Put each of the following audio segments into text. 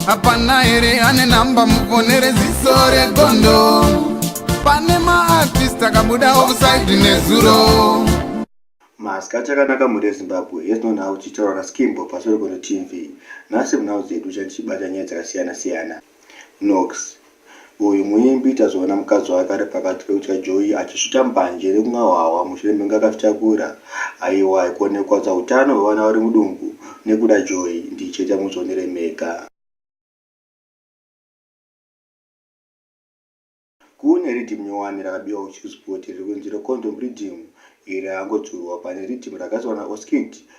hapana here ane namba mufonere ziso regondo pane maartist akabuda offside nezuro maska achakanaka mhuri yezimbabwe hes non how tichitaura naskimbo pasori kono tv nhasi munhau dzedu chandichibata nyaya dzakasiyana siyana nox Uyu muimbi tazoona mukadzi wake ari pakati pekutya joyi achisvita mbanje nekumwahwahwa mushure mekunge akazvitakura. Aiwa ko nekukwadza hutano hwevana vari mudumbu nekuda joyi ndii chete hamuzvionere mega. Kune riddim nyowani rakabiwa kuChillspot riri kunzi reCondom Riddim. Iri rangodzurwa pane riddim ragadzirwa naOskid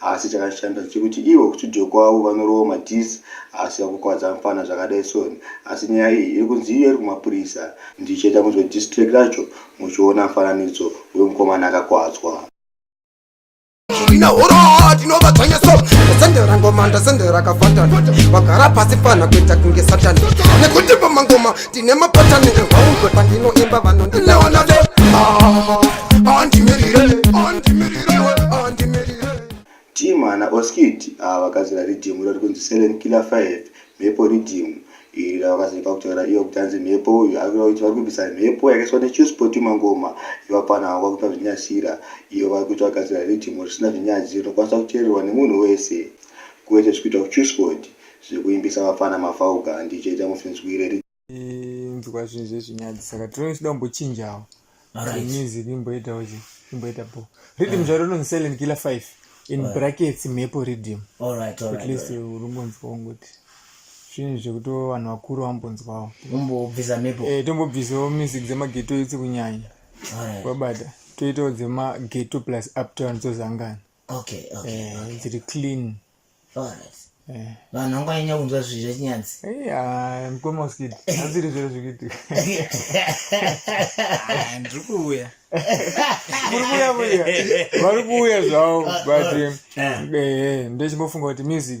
Asi chakashanda chekuti ivo kustudio kwavo vanorowa madiss asi vakukwadza mfana zvakadai son asi nyaya iyi iri kunzi iyo iri kumapurisa. Ndichaita munzwe diss track racho muchiona mufananidzo wemukomana akakwadzwa. Ine huroo ndinova dzvanya so ndasendera ngoma ndasendera kafatani vagara pasi fana kuita kunge satani nekuti pamangoma ndine mapatani evaungwe pandinoimba vanondileonado ah, andimirire andimirirewe andimirire team ana oskid ava vakazira ridhimu iro rikunzi selen killer 5 mhepo ridhimu iri ravakazivika kutaura iyo kuti anzi mhepo uyu arikuita kuti vari kubvisa mhepo yakaiswa nechuspoti mangoma ivapana vava kuita zvinyasira iyo vari kuita vagadzira ridhimu risina zvinyadziro rinokwanisa kuteererwa nemunhu wese kuwete zvikuita kuchuspoti Zvekuimbisa vapfana mafauka handichete musinzwire ri. Inzwa zvinhu zvezvinyadzi saka tinochida kumbochinjawo. Alright. Music imboitawo chi imboita bo. Rhythm zvaro rinonzi Silent Killer 5 in brackets mhepo rhythm. All right, all At right. least unombonzwa ungoti zvinhu zvekuti vanhu vakuru vambonzwawo. Umbobvisa mhepo. Eh tombobvisawo music dzemageto idzi kunyanya. All right. Wabata toitawo dzemageto plus uptown dzozangana. okay okay, eh, okay. dziri clean alright eh. vanhu vanganyanya kunzwa zvi zvechinyanzi eh, mkoma usikiti aziri zviro zvikuitika ah, ndiri kuuya muri kuuya kuya vari kuuya zvavo but ndechimbofunga kuti music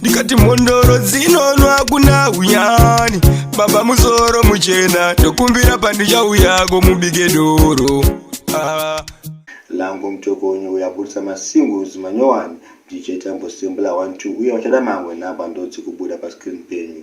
ndikati mhondoro dzinonwa hakuna unyani baba musoro muchena ndokumbira pandichauyako mubike doro ah. langu mtokonyo uyaburitsa masingles manyowani dj tambo simbla 12 uye vachada mamwe nhamba ndodzi kubuda pascreen penyu